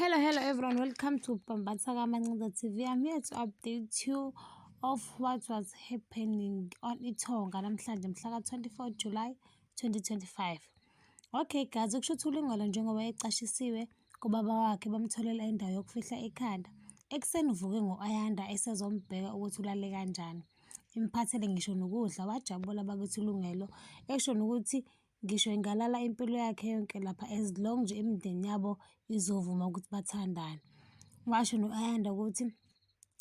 Hello, hello everyone. Welcome to Pambatsa Kamancinza TV. I'm here to update you of what was happening on Itonga namhlanje mhla ka-24 July 2025. Okay guys, ukusho ukuthi uLingolo njengoba ecashisiwe kubaba wakhe bamtholela indawo yokufihla ekhanda. Ekuseni uvuke ngo-Ayanda esezombheka ukuthi ulale kanjani. Imphathele ngisho nokudla, wajabula bakithi uLungelo esho nokuthi Ngisho ingalala impilo yakhe yonke lapha as long nje imindeni yabo izovuma ukuthi bathandane. Washo no-Ayanda ukuthi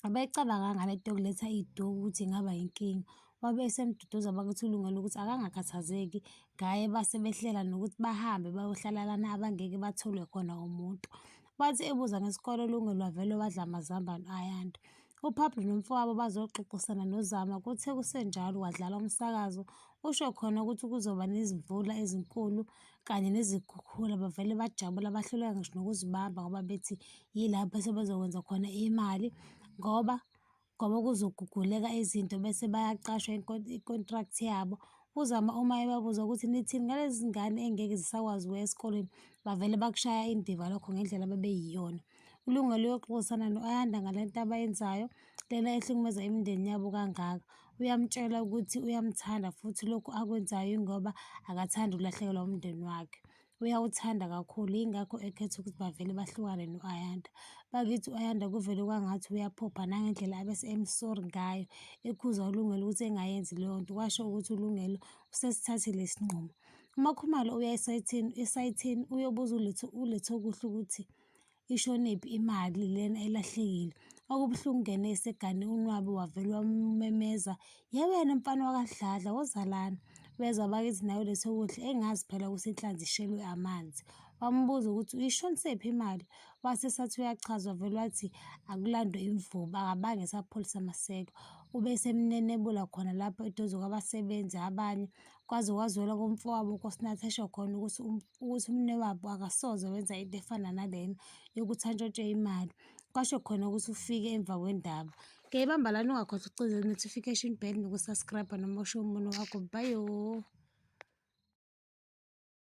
abeyicabanganga le nto yokuletha iy'duku ukuthi ingaba yinkinga. Wabe esemduduza bakuthi ulungele ukuthi akangakhathazeki ngaye base behlela nokuthi bahambe bayohlala lana abangeke batholwe khona umuntu. Wathi ebuza ngesikole uLungelo wavele wadla amazambane u-Ayanda. UPablo nomfowabo bazoxoxisana noZama kuthe kusenjalo kwadlala umsakazo. Usho khona ukuthi kuzoba nezimvula ezinkulu kanye nezikhukhula bavele bajabula bahluleka ngisho nokuzibamba ngoba bethi yilapho sebezokwenza khona imali ngoba ngoba kuzoguguleka izinto bese bayaqashwa i-contract yabo. UZama uma ebabuza ukuthi nithini ngalezi zingane engeke zisakwazi ukuya esikoleni, bavele bakushaya indiva lokho ngendlela abebeyiyona. Ilunga liyoxoxisana no-Ayanda ngale nto abayenzayo lena ehlukumeza imindeni yabo kangaka. Uyamtshela ukuthi uyamthanda futhi lokhu akwenzayo ingoba akathandi ukulahlekelwa umndeni wakhe. Uyawuthanda kakhulu yingakho ekhetha ukuthi bavele bahlukane no-Ayanda. Bakithi u-Ayanda kuvele kwangathi uyaphopha nangendlela abese emsori ngayo ekhuza uLungelo ukuthi engayenzi leyo nto kwasho ukuthi uLungelo usesithathile isinqumo. UMakhumalo uya esayithini esayithini uyobuza uLetho uLetho kuhle ukuthi ishonephi imali lena elahlekile. Okubuhlungu kungene esegane unwabu wavele wamumemeza, yewena mfana wakaDladla woza lana. Weza bakithi nawe lethe ukudla engazi phela ukuthi inhlanzi ishelwe amanzi. Wamubuza ukuthi uyishonisephi imali, wase sathi uyachaza wavele wathi akulandwe imvubu akabange esapholisa maseko. Ube esemnenebula khona lapho eduze kwabasebenzi abanye. kwaze kwazwela komfowabo uNkosinathi esho khona ukuthi um, ukuthi umnewabo akasoze wenza into efana nalena yokuthi antshontshe imali kwasho khona ukuthi ufike emva kwendaba ke ibamba lani ungakhohlwa ukucinza notification bell nokusubscribe noma usho umuntu wakho bayo